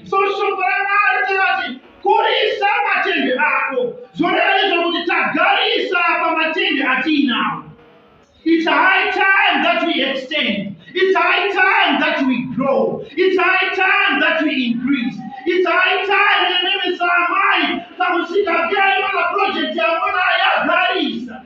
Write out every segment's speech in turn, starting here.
So shoko raMwari rinoti kurisa matende ako zvoreva nezvokuti tagarisa pamatende atiinawo It's high time that we extend. It's high time that we grow. It's high time that we increase. It's high time nememe samai kamusika vyaiona project yamona yagarisa.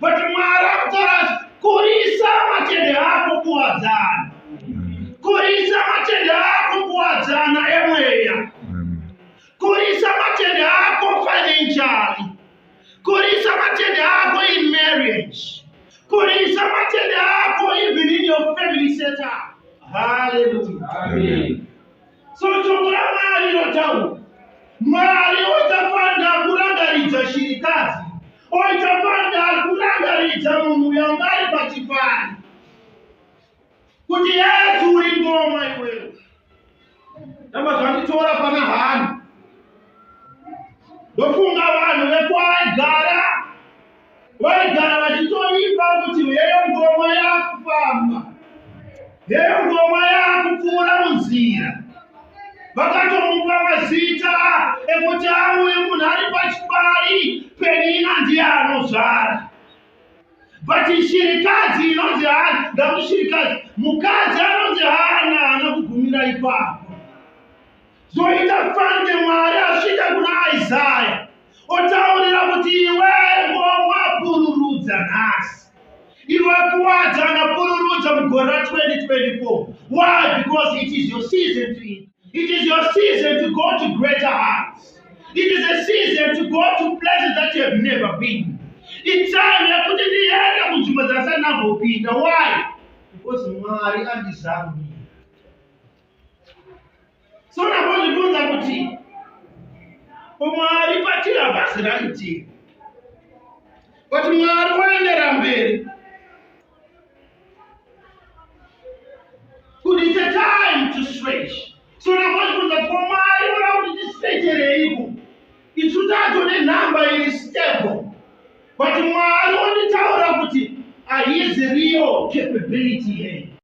but mwari akutarazve kurisa matende ako kuwadzana kurisa matende ako kuwadzana emweya kurisa matende ako financially kurisa matende ako in marriage kurisa matende ako even in your family setup haleluya amen so shoko ramwari rotaura mwari otafanira kurangaridza shirikadzi Oita pande ari kurangaridza munhu uyo anga ari pachipani kuti yesu uri ngoma iwewe ndamba zvanditora pana hanu ndofunga vanhu vekwaigara vaigara vachitoimba kuti heyo ngoma yakufamba Nengoma yakupfuura munzira vakatomupa mazita ekuti auye munhu ari pachipari penina ndiye anozvara but shirikadzi inonzi hana ndakuti shirikadzi mukadzi anonzi hana haana kugumira ipapo zoita fande mwari asvika kuna isaya otaurira kuti iwe wawapururudza nhasi iwe kuwadza anapururudza mugore ra 2024 why because it is your season to it it is your season to go to greater heights it is a season to go to places that you have never been itime yekuti ndiende kunzvimbo dzasati nambopinda why because mwari andizambi so ndakuzvibvunza kuti umwari patiri havasi raitiri but mwari woendera mberi kuti it's a time to stretch so ndakuzvibvunza kuti umwari voda kuti tistrechereiko isu tato nenhamba iri stable but mwari wonditaura kuti haizi real capability here